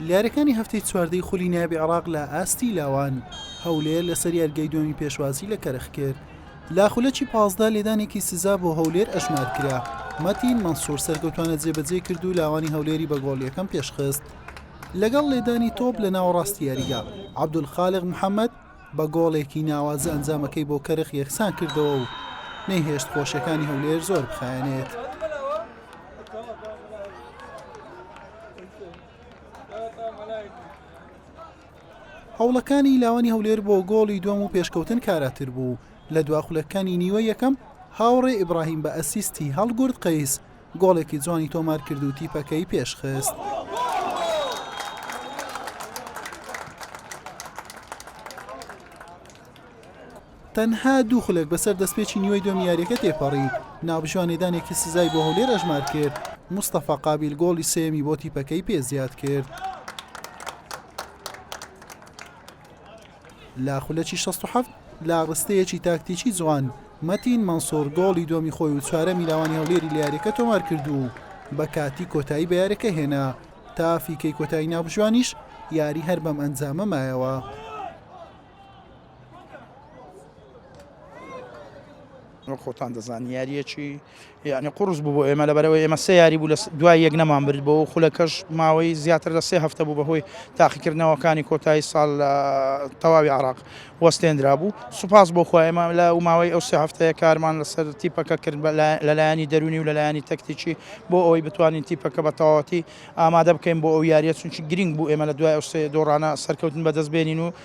یارییەکانی هەفتەی چواردەی خولی نایابی عێراق لە ئاستی لاوان هەولێر لەسەر یاریگای دووەمی پێشوازی لە کەرخ کرد لە خولەکی پازدە لێدانێکی سزا بۆ هەولێر ئەژمار کرا مەتین مەنسوور سەرکەوتوانە جێبەجێ کرد و لاوانی هەولێری بە گۆڵ یەکەم پێشخست لەگەڵ لێدانی تۆپ لە ناوەڕاستی یاریگا عەبدولخالق محەممەد بە گۆڵێکی ناوازە ئەنجامەکەی بۆ کەرخ یەکسان کردەوە و نەیهێشت خۆشیەکانی هەولێر زۆر بخایەنێت. هەوڵەکانی لاوانی هەولێر بۆ گۆڵی دووەم و پێشکەوتن کاراتر بوو، لە دوا خولەکەکانی نیوە یەکەم هاوڕێ ئیبراهیم بە ئەسیستی هەڵگورد قەیس گۆڵێکی جوانی تۆمارکرد و تیپەکەی پێشخست. تەنها دوو خولەک بەسەر دەستپێکی نیوەی دووەمی یارییەکە تێپەڕی، نابژوا نێدانێکی سزای بۆ هەولێر ئەژمارکرد، مستەفا قابیل گۆڵی سێیەمی بۆ تیپەکەی پێ زیادکرد. لە خولەکی 67 لە ڕستەیەکی تاکتیکی جوان مەتین مەنسۆر گۆڵی دووەمی خۆی و چوارەمی لاوانی هەولێری لە یاریەکە تۆمار کرد و بە کاتی کۆتایی بە یاریەکە هێنا تا فیکەی کۆتایی ناوبژوانیش یاری هەر بەم ئەنجامە مایەوە. خۆتان دەزان یاریەکی یانی قوڕس بوو بۆ ئێمە لەبەرەوەی ئێمە سێ یاری بوو لە دوای یەک نەمان برد بۆ و خولەکەش ماوەی زیاتر لە سێ هەفتە بوو بەهۆی تاقیکردنەوەکانی کۆتایی ساڵ لە تەواوی عراق وەستێنرا بوو سوپاس بۆ خۆێمە لە و ماوەی ئەو سێ هەفتەیە کارمان لەسەر تیپەکە کرد لەلایانی دەرونی و لەلایانی تەکتیکی بۆ ئەوەی بتوانین تیپەکە بە تەواوەتی ئامادە بکەین بۆ ئەو یاریە چونکی گرنگ بوو ئێمە لە دوای ئەو سێ دۆڕانە سەرکەوتن بەدەست بێنین و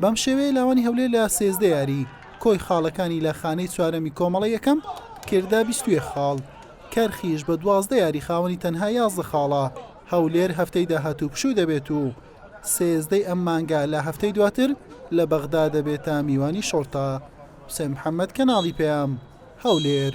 بەم شێوەیە لاوانی هەولێر لە سێزدە یاری کۆی خاڵەکانی لە خانەی چوارەمی کۆمەڵە یەکەم کردا بیستێ خاڵ کەرخیش بە دوازدە یاری خاوەنی تەنها یازدە خاڵە هەولێر هەفتەی داهاتوو پشوو دەبێت و سێزدەی ئەم مانگا لە هەفتەی دواتر لە بەغدا دەبێتە میوانی شۆرتا حسێن محەممەد کەناڵی پەیام هەولێر